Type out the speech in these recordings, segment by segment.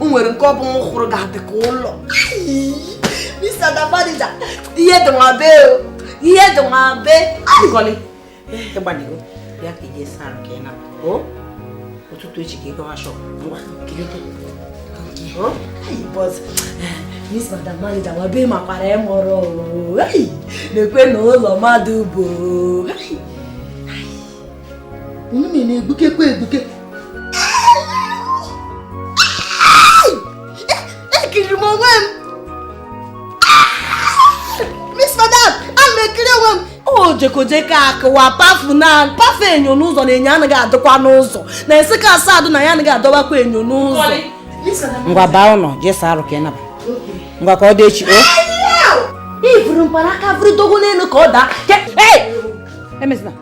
o nwere nke ọ bụ m hụrụ ga-adị ka ụlọ Miss Madam Manager ihe dị nwa be o ihe dị nwa be Nkọli ịgbanigo bịa ka i je saa nke na o ụtụtụ echi ka ị gawa shọp ngwa kilite Miss Madam Manager nwa be makwara ẹ mọrọ o na-ekwe na ụlọ mmadụ bụ Onume na-egbukekwe egbuke. Ekiri m onwe m. Miss Madam, a m ekiri onwe m. O jekojeka akụwa pafu na pafu enyo n'ụzọ na enyo anaghị adịkwa n'ụzọ na Nsukka Asadu na ya anaghị adọbakwa enyo n'ụzọ. Ngwa baa ụlọ je saa arụ ka ị naba. Ngwa ka ọ dị echi. I vuru mkpanaka vuru dogo n'elu ka ọ daa. Emezina.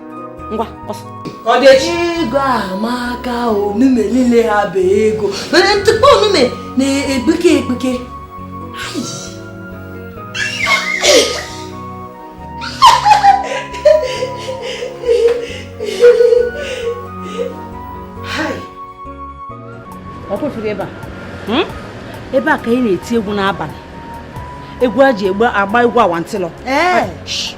ngwa ọsọ ọ dị echi ego amaka onume niile ha bụ ego mana ntụkpọ onume na-egbuke egbuke ọkwa ị fụrụ ebe a hmm? ebe a ka anyị na-eti egwu n'abalị egwu a ji agba egwu awantịlọ eh.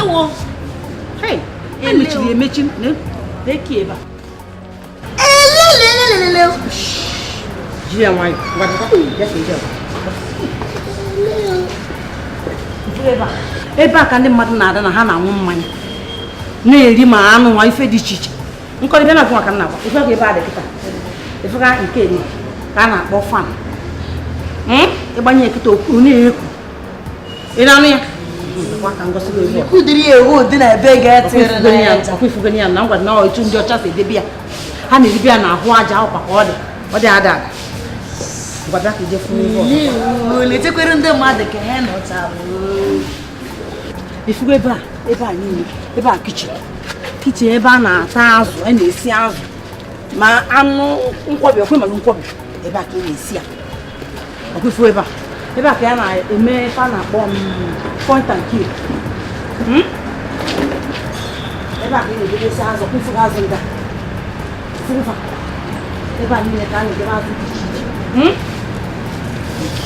ewo emechiri emechi na-eki ebe a elelelelele ji ya nwayọ ebe a ka ndị mmadụ na-ada na ha na-aṅụ mmanya na-eri ma anụ nwa ife dị iche iche Nkọli bịa na ka m na-agwa ị fụ ka ebe a dị kịta ifugo nke ni ka a na-akpọ fan hmm? ị gbanye ya kịta okwu na-ekwu ị na-anụ ya ka m gosi ebe kudiri ewu dị na ebe ga-etịrịọkwa ya na ngwa na otu ndị ọcha si edebe ya ha na-eribe ya na ahụ aja ọkwa ka ọ dị ọ dị ada ada letekwere ndị mmadụ ka ha nọcha ifugo ebe a ebe a niile ebe a kichin kichin ebe a na-ata azụ a na-esi azụ ma anụ nkwọbi ọkwa ị malụ nkwọbi ebe a ka a na-esi ya ọkwa ifugo ebe a ebe a ka a na-eme ife a na-akpọ point and kill Hmm? ebe a ka a na-edebesi azụ ọkwa ifugo azụ ndị a ifugo fa ebe a niile ka a na-edebe azụ dị iche iche Hmm?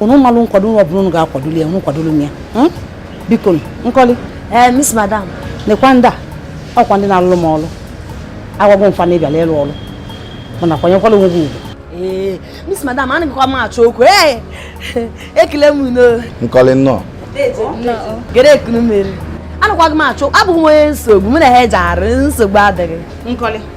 unu malụ nkwado ụlọ ọbụla unu ga-akwadolu ya unu kwadolu m ya hmm? biko Nkoli ee eh, miss madam nekwa ndị a ọ kwa ndị na-alụrụ m ọrụ agwago m fa na ị bịala ịlụ ọrụ mana kwanyekwala onwe gị ugwu ee eh, miss madam anaghịkwa m achọ okwu ee eh, ekele m unu Nkoli nnọọ gere ekunu mmeri anakwaghị m achọ abụghị m onye nsogbu m na ha eji arụ nsogbu adịghị Nkoli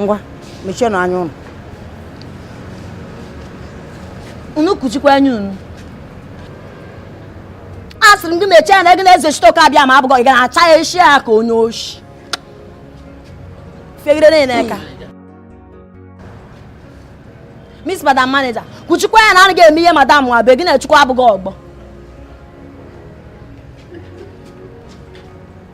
ngwa mechienụ anya unu unu kuchikwa anya unu asịrị m gị mechie anya gị na Eze Chitoke Abịama abụghị ị ga na-acha ya isi ya ka onye oshi fegide nụ eka miss madam manager kuchikwa anya na anaghị eme ihe madam nwa be gị na Chukwu abụghị ọgbọ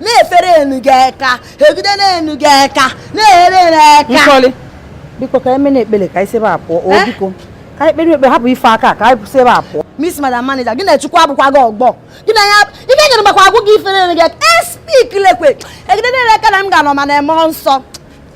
na-efere enu gị aka egide n'enu gị aka na-ehere na aka Nkoli biko ka e mee nụ ekpele ka anyị si ebe a pụọ o eh? biko ka anyị kpere ekpe hapụ ife aka ka anyị si ebe a pụọ miss madam manager gị na Chukwu abụkwaghị ọgbọ gị na ya ike nyere makwa agwụ gị ifere enu gị aka speak eh, lekwe egide nụ aka na m ga-anọ ma na-eme nsọ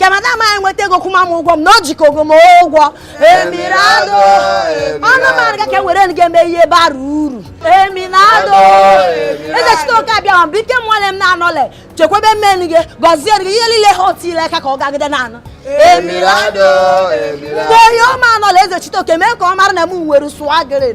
ka madam anyị nweta ego kwụma m ụgwọ m na o jikọgo m ụgwọ emirado ọnụ mara ga ka e were ga eme ihe bara uru emirado Eze Chitoke Abịama bụ ike mụọle m na-anọle chekwebe mmenu gị gọzie gị ihe niile ha otu ile ka ka ọ gagide na-anụ emirado mgbe onye ọma anọla Eze Chitoke mee ka ọ mara na m nwere sụagịrị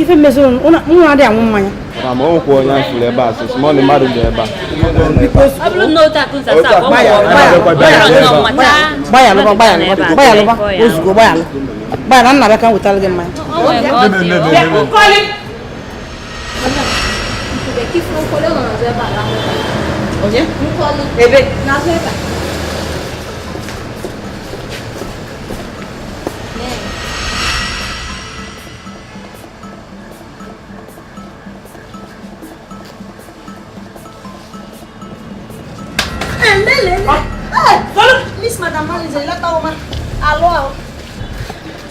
ife mezịrị nwa adị anwụ mmanya ma ma o nwekwa onye anyị fụrụ ebe a sị ma ọ na mmadụ dị ebe a gbayalụba gbayalụba gbayalụba ozugbo gbayalụ gbayalụ nna bịa ka m wetara gị mmanya Onye? Ebe? N'azụ ebe a.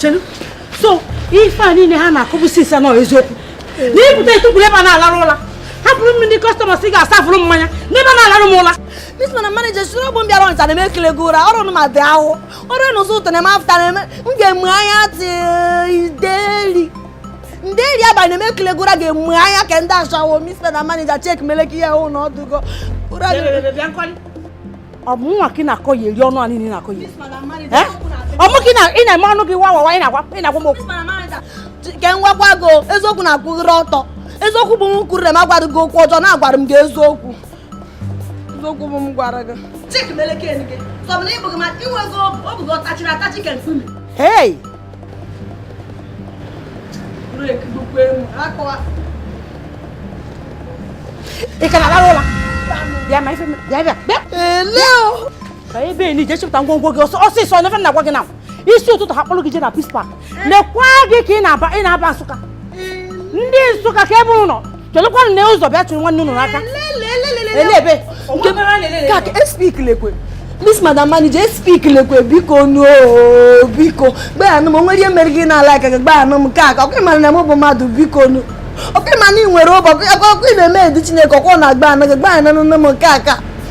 chelu so ife a niile ha na-akọbu since na eziokwu na ị pụta ị tukwuru ebe a na-alarụ ụla hapụrụ m ndị customers ị ga-asafụrụ mmanya n'ebe a na-alarụ m ụla Miss Madam manager suru ọgbọ m bịara Ọnịcha na-eme ekele gị ụra ọrụ ma dị ahụ ọrụ n'ụzọ ụtụtụ na-eme afta na-eme m ga-amụ anya tee nderi nderi abalị na-eme ekele gị ụra ga-amụ anya ka ndị ashawo miss madam manager check meleki ya hụ na ọdụgo ọ bụ mwa ka ị na-akọyeri ọnụ a niile na-akọ ya eh? ọ mụ ka ị na-eme ọnụ gị wawawa ị na-agwa ị na-agwa m okwu ka m gwakwa gị eziokwu na-akwụghịrị ọtọ eziokwu bụ m kwuru na m agwara gị okwu ọjọọ na agwara m gị eziokwu eziokwu bụ m gwara gị hei ị ka na-alarụ ụla bịa ma ife bịa bịa bịa ele ka ebe ni je chịpụta ngwongwo gị ọsọ ọsịsọ nyefe na-agwa gị na isi ụtụtụ ha kpọrọ gị je na Peace Park lekwa gị ka ị na-aba ị na-aba Nsụka ndị Nsụka ka ebe ụlọ chelụkwanụ na ụzọ bịa chụrụ nwanne unu n'aka elebe ka speak lekwe Miss Madam Manager speak lekwe biko nụ biko gbayanụ m o nwere ihe mere gị na-ala aka gị gbayanụ m ka aka ọkụ mara na m bụ mmadụ biko nụ ọkụ ị ma na ị nwere ụbọ ọkụ ị na-eme edu Chineke ọkụ na-agba anaghị gbayanụ nne m nke aka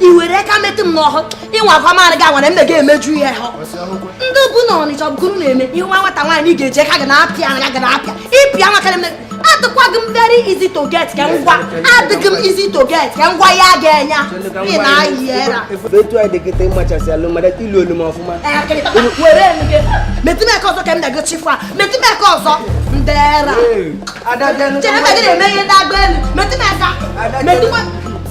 i were aka metụ m n'ahụ ịnwa akwa maara gị agwara mme gị emeju ihe ha ndị bụ na ọnịcha bụkụrụ na-eme ihe nwa nwata nwaanyị ị ga-eje ka ga na-apịa anya ga na-apịa ịpịa nwa karịa adịkwaghị m very easy to get ka ngwa adịghị m easy to get ka ngwa ya ga-enya ị na-ayị era etu anyị dị kịta ịmachasị alụ mara ilu olu m ọfụma were gị metimeka ọzọ ka m na-ego chifu a metimeka ọzọ ndị era chere mgbe gị na-eme ihe ndị agba elu metimeka metimeka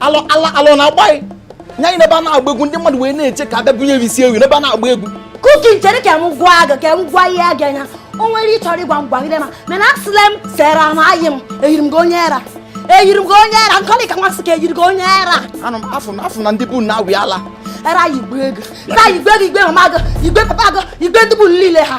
alọ ala alọ na-agba anyị nya anyị n'ebe a na-agba egwu ndị mmadụ wee na-eche ka a bịa bunye isi ewu n'ebe a na-agba egwu kuki chere ka m gwa gị ka m gwa ihe gị anya o nwere ihe ị chọrọ ịgwa m gwagide ma mana asịla m sere m ayị m eyiri m gị onye era eyiri m gị onye era nkọlị ka nwa sị ka eyiri gị onye era anụ m afụ na afụ na ndị be unu na-awị ala era yigbue gị era yigbue gị yigbue mama gị yigbue papa gị yigbue ndị be unu niile ha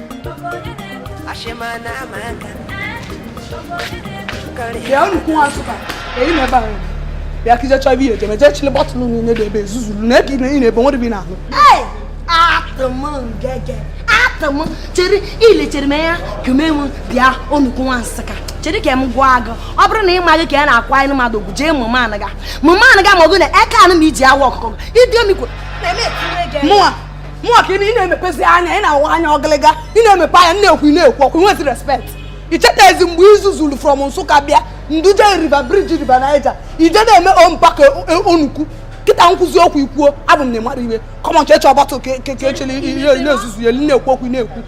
bịa onukwu nwa nsụka eyi na ebe ahụ bịa ka i je chọọ ebe ihe ejeme jee chịlị bọtụlụ niile dị ebe ezuzuru na ebe ị na-ebe nwere bi n'ahụ atụ m ngege atụ m chere ilechere m ya ka mee m bịa onukwu nwa nsụka chere ka m gwa gị ọ bụrụ na ị maghị ka a na-akwanyere mmadụ ugwu jee mụma anaga mụma anaga ma ọ bụ na eke anụ ma iji awa ọkụkọ idiomikwo mụwa mụwa ka ị na-emepezi anya ị na-awa anya ọgịlịga ị na-emepe anya na-ekwu na-ekwu okwu nwezi respect i chetazi mgbe i zuzuru from nsụka bịa m duje river bridge river niger i je na-eme ompaka e, e, onukwu kịta m kwuzi okwu i kwuo abụ m na ịmara iwe come on chechọ bọtụ ka echele ihe na-ezuzu ya na-ekwu okwu na-ekwu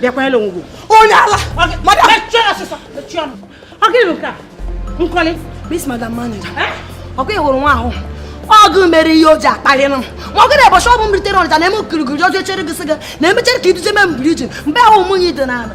bịakwa ele onwe onye ala madam mechie ọsịsọ mechie ọnụ ọ gịnị bụ nke a nkọli miss madam manager ọ gịnị hụrụ nwa ahụ ọgụ mere ihe o ji akpali nụ ma ọ gị na ụbọchị mbụ m rutere ọnịcha na-eme okirikiri ọjọọ chere gị sị gị na emechere ka i duje m na bridge mgbe ahụ ụmụnye dị n'ala